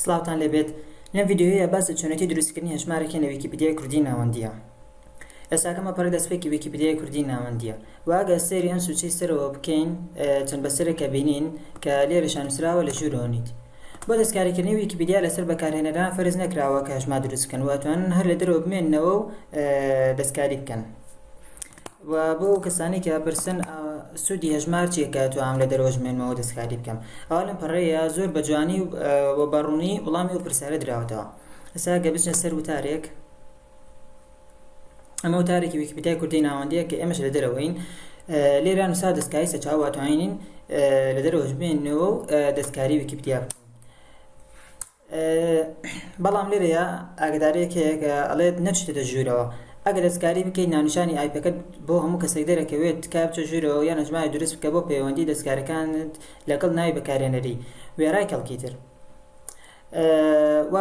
سڵاوتان لێبێت لەم ڤیدیۆیە باس لە چۆنێتی دروستکردنی هەژمارێک کەین لە ویکیپیدیای کوردیی ناوەندییە ئێستاکە مەپەڕی دەستپێکی ویکیپیدیای کوردیی ناوەندییە و ئەگەر سەیری ئەم سوچەی سەرەوە بکەین چەند بەسەرێک ئەبینین کە لێرەشیان نووسراوە لە ژوورەوە نیت بۆ دەستکاریکردنی ویکیپیدیا لەسەر بەکارهێنەران فەرز نەکراوە کە هەژمار دروست بکەن و ئەتوانن هەر لە دەرەوە بمێننەوە و دەستکاری بکەن وە بۆ ئەو کەسانەی کە ئەپرسن سودی هەژمار چیە کە توانم لە دەرەوەش بمێنمەوە دەستکاری بکەم ئەوا لەم پەڕەیە زۆر بە جوانی و بە ڕوونی وڵامی ئەو پرسیارە دراوەتەوە ئێستا گە بچنە سەر وتارێک ئەمە وتارێکی ویکیپیدیای کوردی ناوەندەیە کە ئێمەش لە دەرەوەین لێرە نووسا دەستکاری سەرچاو واتوانین لە دەرەوەش بمێنەوە و دەستکاری ویکیپیدیا بکەین بەڵام لێرەیا ئاگداریەک هەیە کە ئەڵێت نەچیتە ژوورەوە ئەگەر دەستکاری بکەیت ناونیشانی ئایپەکەت بۆ هەموو کەسێک دەرەکەوێت تکایە بچە ژوورەوە یان هەژماری دروست بکە بۆ پەیوەندی دەستکارەکانت لەگەڵ ناوی بەکارهێنەری وێڕای کەڵکی تر و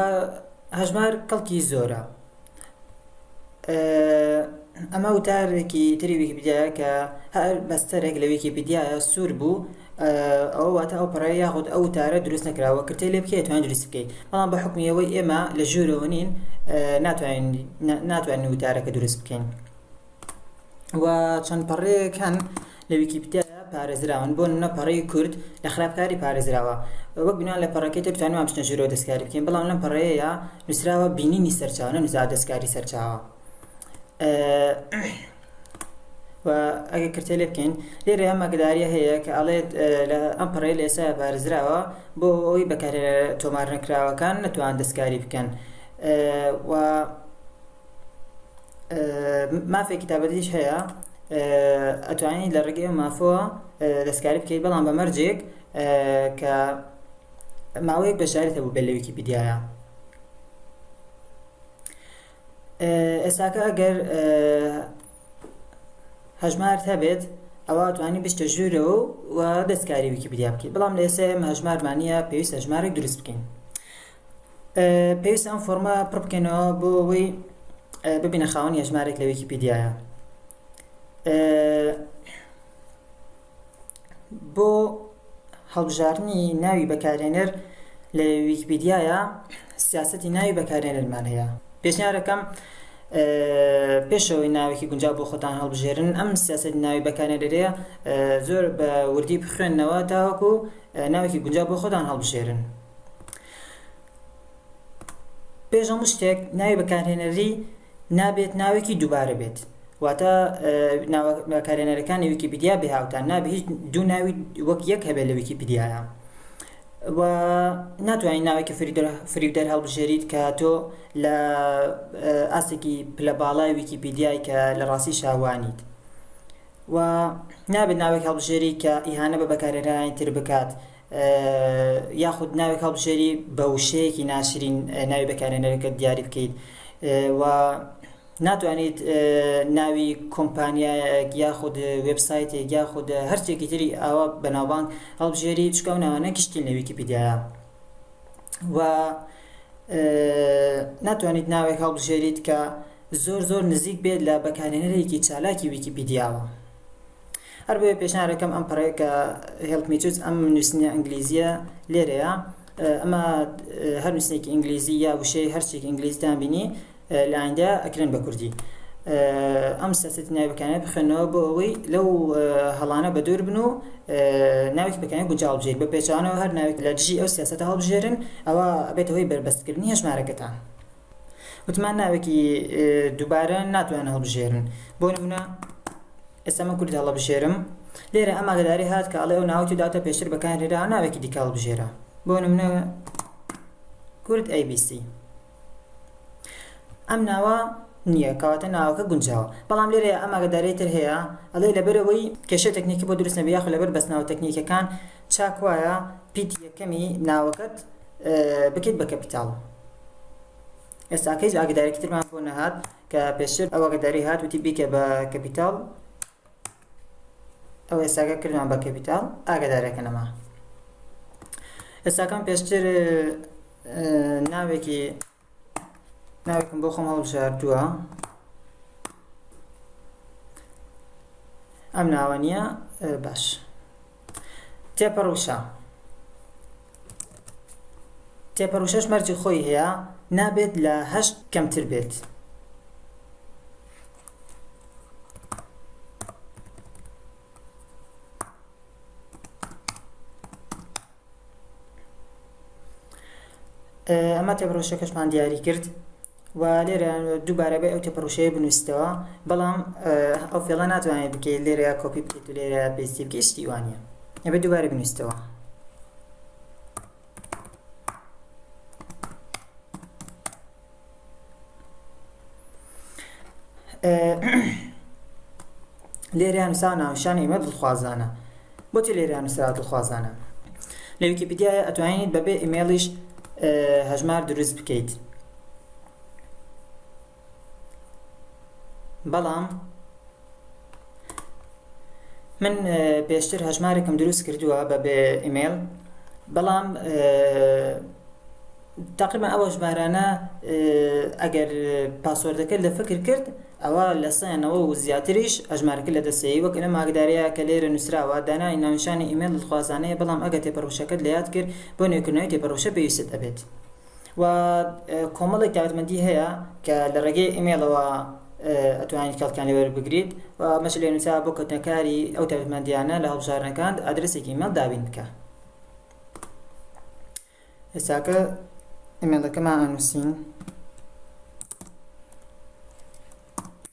هەژمار کەڵکی زۆرە. ئەمە وتارێکی تری ویکیپیدیایە کە هەر بەستەرێک لە ویکیپیدیایە سوور بوو ئەوە واتە ئەو پەڕەیە یاخود ئەو وتارە دروست نەکراوە کردتێ لێ بکەی ئەتوانی دروستی بکەی بەڵام بە حوکمی ئەوەی ئێمە لە ژوورەوە نین ناتوانین ناتوانین وتارەکە دروست بکەین. و چەند پەڕەیەک هەن لە ویکیپیدیادا پارێزراون بۆ نمونە پەڕەی کورد لە خراپکاری پارێزراوە وەک بناو لە پەڕەکەی تر توانیمان بچنە ژوورەوە دەستکاری بکەین بەڵام لەم پەڕەیەیا نووسراوە بینینی سەرچاوە نەنووسراوە دەستکاری سەرچاوە و ئەگەر کرتێ لێ بکەین لێرە ئەم ئەگەداریە هەیە کە ئەڵێت ئەم پەڕەیە لە ئێستا پارێزراوە بۆ ئەوەی بەکارێ تۆمار نەکراوەکان نەتوان دەستکاری بکەن و مافێ کتابەتیش هەیە ئەتوانین لە ڕێگەی مافەوە دەستکاری بکەیت بەڵام بە مەرجێک کە ماوەیەک بەشداریت هەبوو بێت لە ویکیپیدیایە ئێساکە ئەگەر هەژمارت هەبێت ئەوە توانی بشتە ژوورەوە و دەستکاری ویکیپیدیا بکەیت بەڵام لە ئێستا ئێمە هەژمارمانە پێویست هەژمارێک دروست بکەین پێویستە ئەم فۆڕمە پڕ بکەینەوە بۆ ئەوەی ببینە خاوەن هێژمارێک لە ویکیپیدیایە بۆ هەڵبژاردنی ناوی بەکارێنەر لە ویکیپیدیایە سیاستی ناوی بەکارێنەرمان هەیە پێشنیارەکەم پێشەوەی ناوێکی گونجا بۆ خۆتان هەڵبژێرن ئەم سیاست ناوی بەکارێنەرەیە زۆر بە وردی بخوێندنەوە تاوەکو ناوێکی گونجا بۆ خۆتان هەڵبژێرن پێش هەموو شتێک ناوی بەکارهێنەری نابێت ناوێکی دووبارە بێت واتە بەکارهێنەرەکانی ویکیپیدیا بێ هاوتان نابێت هیچ دوو ناوی وەک یەک هەبێت لە ویکیپیدیایە و ناتوانین ناوێکی فریودەر هەڵبژێریت کە تۆ لە ئاستێکی پلە باڵای ویکیپیدیای کە لە ڕاستی شاوانیت و نابێت ناوێک هەڵبژێری کە ئیهانە بە بەکارێنانی تر بکات یاخود ناوێک هەڵبژێری بە وشەیەکی ناشرین ناوی بەکارێنەرەکەت دیاری بکەیت و ناتوانیت ناوی کۆمپانیایەک یاخود وبسایتێک یاخود هەرچێکی تری ئاوا بەناوبانگ هەڵبژێری چکە و ناوانە گشتین لە ویکیپیدیایە و ناتوانیت ناوێک هەڵبژێریت کە زۆر زۆر نزیک بێت لە بەکارێنەرێکی چالاکی ویکیپیدیاوە هەربۆیە پێشنیارەکەم ئەم پەڕەیە کە Help Me Choose ئەم نووسینە ئینگلیزیە لێرەیە ئەمە هەر نووسینێکی ئینگلیزی یا وشەی هەرچێکی ئینگلیزیتان بینی لە ئایندە ئەکرێن بە کوردی ئەم سەسەتی ناوی بەکانە بخوێنەوە بۆ ئەوەی لەو هەڵانە بە دوور بن و ناوی بەکانی گونجاو بژێت بە پێچوانەوە هەر ناوێک لە دژی ئەو سیاستە هەڵبژێرن ئەوە بێتەوەی بەربەستکردنی هەژمارەکەتان وتمان ناوێکی دووبارە ناتوان هەڵبژێرن بۆ نمونە ئێستا من کورد هەڵبژێرم لێرە ئەم ئاگداری هات کە ئەڵێ ئەو ناوەی تو داوتە پێشتر بەکارهێرا ناوێکی دیکە هەڵبژێرە بۆ نمونە کورد ABC ئەم ناوە نییە کەواتە ناوەکە گونجاوە بەڵام لێرە ئەم ئاگداری تر هەیە ئەڵێ لەبەرەوەی کێشە تەکنیکی بۆ دروست نەبێ یاخود لەبەر بەستناوە تەکنیکەکان چاک وایە پیتی یەکەمی ناوەکەت بکەیت بە کەپیتاڵ ئێستا کەیس ئاگدارێکی ترمان بۆ نەهات کە پێشتر ئەو ئاگداری هات وتی بیکە بە کەپیتاڵ ئەو ئێستاگە کردمان بە کەپیتاڵ ئاگدارەکە نەما ئێستاکەم پێشتر ناوێکی ناوێکم بۆ خۆم هەڵبژاردووە ئەم ناوە نییە باش تێپەڕوشە تێپەڕوشەش مەرجی خۆی هەیە نابێت لە هەشت کەمتر بێت ئەمە تێپەڕۆشەکەشمان دیاری کرد و لێرە دووبارە بە ئەو تێپەڕۆشەیە بنووسیتەوە بەڵام ئەو فێڵە ناتوانێت بکەیت لێرە کۆپی بکەیت و لێرە پێستی بکەیت شتی وانە ئەبێ دووبارە بنووسیتەوە لێرە نووسا ناونیشانی ئێمە دڵخوازانە بۆچی لێرە نووسرا دڵخوازانە لە ویکیپیدیایە ئەتوانیت بەبێ ئیمێڵیش هەژمار دروست بکەیت بەڵام من پێشتر هەژمارێکم دروست کردووە بە بێ ئیمێل بەڵام تقریبا ئەوە ژمارانە ئەگەر پاسۆردەکە لە فکر کرد ئەوە لە سەیانەوە و زیاتریش ئەژمارەکە لە دەسەیە وەک لە ماگدارەیە کە لێرە نووسراوە دانای ناونشانی ئیمێل خوازانەیە بەڵام ئەگە تێپەڕوشەکەت لە یاد کرد بۆ نوێکردنەوەی تێپەڕوشە پێویستت ئەبێت و کۆمەڵێک تایبەتمەندی هەیە کە لە ڕێگەی ئیمەیڵەوە ئەتوانیت کەڵکیان لێوەر بگریت و ئەمەش لێ نووسە بۆ کەوتنەکاری ئەو تایبەتمەندیانە لە هەڵبژاردنەکان ئادرسێکی ئیمەیڵ دابین بکە ئێستاکە ئیمەیڵەکەمان ئەنووسین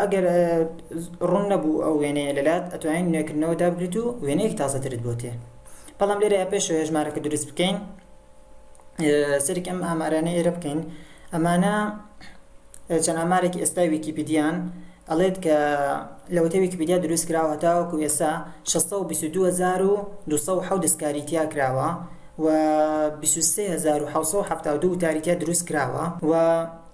ئەگەر ڕوون نەبوو ئەو وێنەیە لەلات ئەتوانین نوێکردنەوە دابگریت و وێنەیەک تازەترت بۆ تێ بەڵام لێرە پێش هێژمارەکە دروست بکەین سەیرێکی ئەم ئامارانە ئێرە بکەین ئەمانە چەند ئامارێکی ئێستای ویکیپیدیان ئەڵێت کە لەوەتە ویکیپیدیا دروست کراوە تاوەکو ئێستا 622270 دەستکاری تیا کراوە و 23772 وتاری تیا دروست کراوە و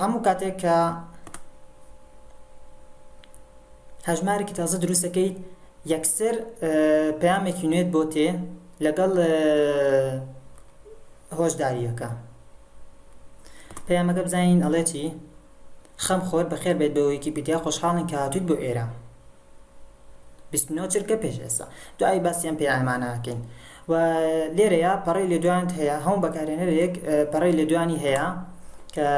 هەموو کاتێک کە هەژمارێکی تازە دروست دەکەیت یەکسەر پەیامێکی نوێت بۆ تێ لەگەڵ هۆشداریەکە پەیامەکە بزانین ئەڵێتی خەم خۆر بەخێر بێت بە ویکیپیدیا خۆشحاڵین کە هاتوویت بۆ ئێرە بیست و نۆ چرکە پێش ئێستا دوایی باسی ئەم پەیامانە ئەکەین و لێرەیە پەڕەی لێدوانت هەیە هەموو بەکارهێنەرێک پەڕەی لێدوانی هەیە کە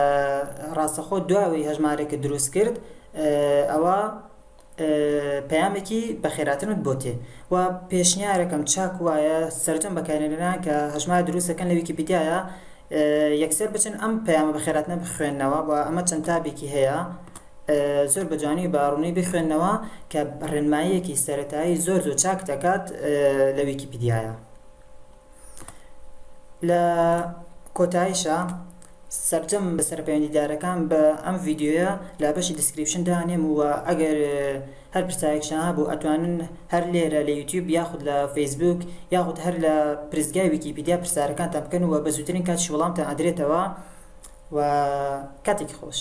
ڕاستەخۆ دواوەی هەژمارێکە دروست کرد ئەوە پەیامێکی بەخێراتنت بۆ تێ و پێشنیارەکەم چاک وایە سەرجەم بەکارێنەران کە هەژمار دروستەکەن لە ویکیپیدیایە یەکسەر بچن ئەم پەیامە بەخێراتنە بخوێنەوە و ئەمە چەند تابێکی هەیە زۆر بە جوانی و بە ڕوونی بخوێنەوە کە ڕێنماییەکی سەرەتایی زۆر زۆر چاک دەکات لە ویکیپیدیایە لە کۆتایشە سەرجەم بەسەر پەیوەندیدارەکان بە ئەم ڤیددیوە لە بەشی دیسکریپشن دانێم و ئەگەر هەر پرسایەکشان هەبوو ئەتوانن هەر لێرە لە یوتیوب یاخود لە فەیسبوک یاخود هەر لە پرسگای ویکیپیدیا پرسیارەکانتان بکەن و بە زووترین کاتیش وەڵامتان ئەدرێتەوە و کاتێکی خۆش